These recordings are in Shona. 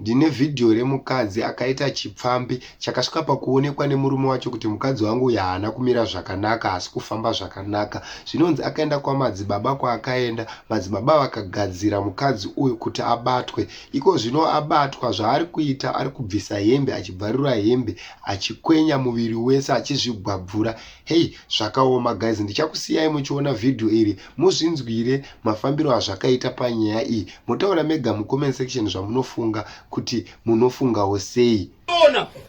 Ndine vhidhiyo remukadzi akaita chipfambi chakasvika pakuonekwa nemurume wacho kuti mukadzi wangu uyu haana kumira zvakanaka, haasi kufamba zvakanaka. Zvinonzi akaenda kwamadzibaba kwaakaenda, madzibaba vakagadzira mukadzi uyu kuti abatwe. Iko zvino abatwa, zvaari kuita ari kubvisa hembe achibvarura hembe, achikwenya muviri wese achizvigwabvura. Heyi, zvakaoma guys, ndichakusiyai muchiona vhidhiyo iri Muzvinzwire mafambiro azvakaita panyaya iyi. Motaura mega mucomment section zvamunofunga kuti munofungawo sei.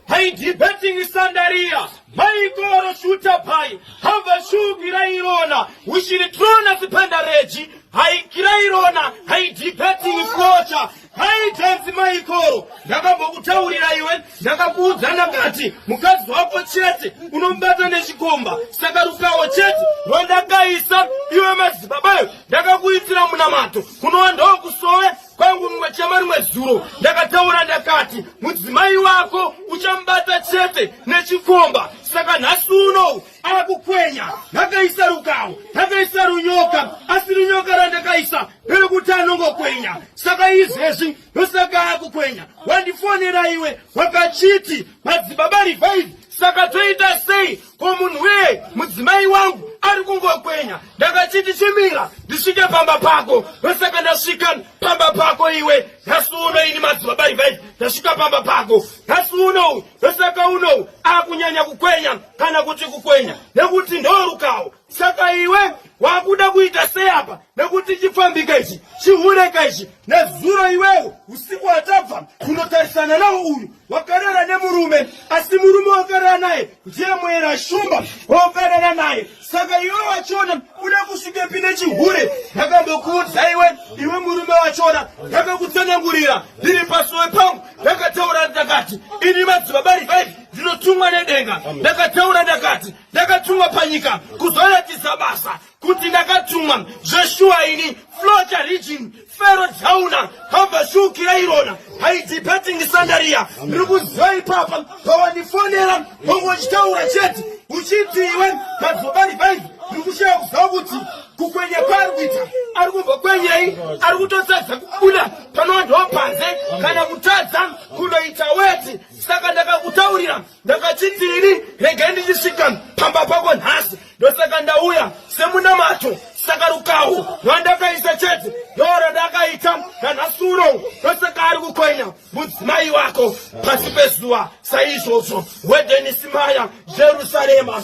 Haidibeting sandaria maikoro shuta pai hava shugira irona ushiritrona sipandareji haikira irona haidibeting kocha Haitanzi maikoro ndakambokutaurira iwe ndakakuudza ndakati mukadzi wako chete unomubata nechikomba saka rukawo chete rwandakaisa iwe mazibabayo ndakakuitira munamato kunowandawo kusove kwangu mumwe chema rimwe zuro ndakataura ndakati mudzimai wako uchamubata chete nechikomba saka nhasi unou akukwenya ndakaisa rukawo ndakaisa runyoka asi runyoka randakaisa riri kuti anongokwenya saka izvezvi ndosaka akukwenya wandifonera iwe wakachiti madzibaba revive saka toita sei ko munhu wee mudzimai wangu ari kungokwenya ndakachiti chimira ndisvike pamba pako ndosaka ndasvika pamba pako iwe nhasi uno ini madzibaba revive ndasvika pamba pako nhasi uno Saka unou akunyanya kukwenya kana kuti kukwenya nekuti ndorukawo. Saka iwe wakuda kuita sei apa nekuti chipfambika ichi chihureka ichi nezuro iwewo usiku watabva kunotarisana nawo uyu wakarara nemurume asi murume wakarara naye ndiye mwera shumba wakarara naye saka iwe wachona uda kusvikepi nechihure ndakambokuudza iwe iwe murume wachona ndakakutsanangurira ndiri pasowe pangu ndakataura ndakati ini madzibaba rivaivi ndinotumwa nedenga ndakataura ndakati ndakatumwa panyika kuzoratidza basa kuti ndakatumwa zveshuwa ini flota region fero jauna hambashukira irona haidipatingi sandaria ndiri kuziva ipapa pawandifonera hongo chitaura chete uchiti iwe madzobari vaivi ndiri kushaya kuziva kuti kukwenya kwaari kuita ari kumbokwenyei ari kutotadza kubuda panowandiwa panze kana kutadza kunoita weti saka ndakakutaurira ndakachitini regai ndichisvika pamba pako nhasi ndosaka ndauya semunamato saka rukahu rwandakaisa chete ndoro ndakaita nanhasuro ndosaka ari kukwenya mudzimai wako pasi pezuva saizvozvo wedenisimaya jerusarema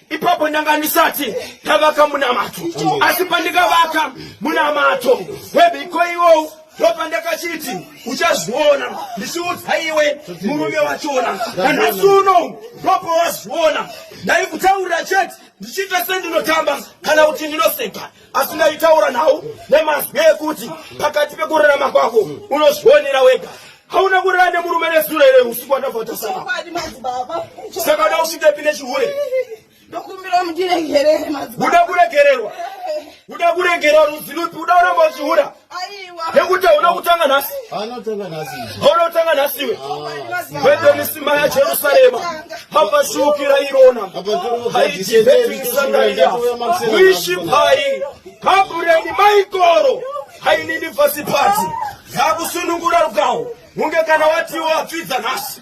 ipapo ndanga ndisati ndavaka munamato asi pandikavaka munamato webiko iwowo ndopandakachiti uchazviona ndichiudza iwe murume wachona nanhasi uno ndopawaziona ndaikutaurira chete ndichiita sendinotamba kana kuti ndinoseka asi ndaitaura nhau nemazwi ekuti pakati pekurarama kwako unozvionera wega hauna kurara nemurume nezuro here usiku wandavhatasana saka da usvike pine chihure ndokumbira mundiregerere uda kuregererwa uda kuregerwa rudzi rupi uda uramba uchihura nekuti hauna kutanga nhasi hauna kutanga nhasi iwe vebemisima yajerusarema mapashukira irona haidivetisandaia wishi pai kabureni maikoro hainini fasipati yakusunungura rukawo hunge kana watiwo apfidza nhasi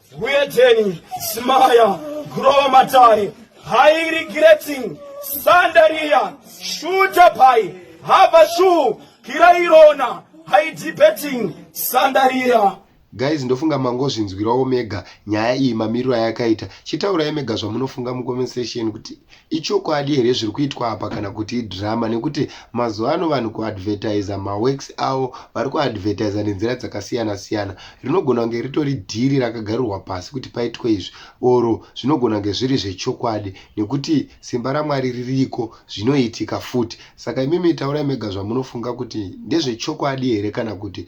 Huyejeni, Smaya, Grow Matari, High Regretting, Sandaria, Shooter Pai, Habashu, Kirairona, High Debating, Sandaria. guys ndofunga mangozvinzwirawo mega nyaya iyi mamiriro ayakaita chitaurai mega zvamunofunga mucomment section kuti ichokwadi here zviri kuitwa apa kana kuti idrama nekuti mazuva ano vanhu kuadvertiza maworks avo vari kuadvertiza nenzira dzakasiyana siyana rinogona kunge ritori dhiri rakagarirwa pasi kuti paitwe izvi oro zvinogona kunge zviri zvechokwadi nekuti simba ramwari ririko zvinoitika futi saka imimi taurai mega zvamunofunga kuti ndezvechokwadi here kana kuti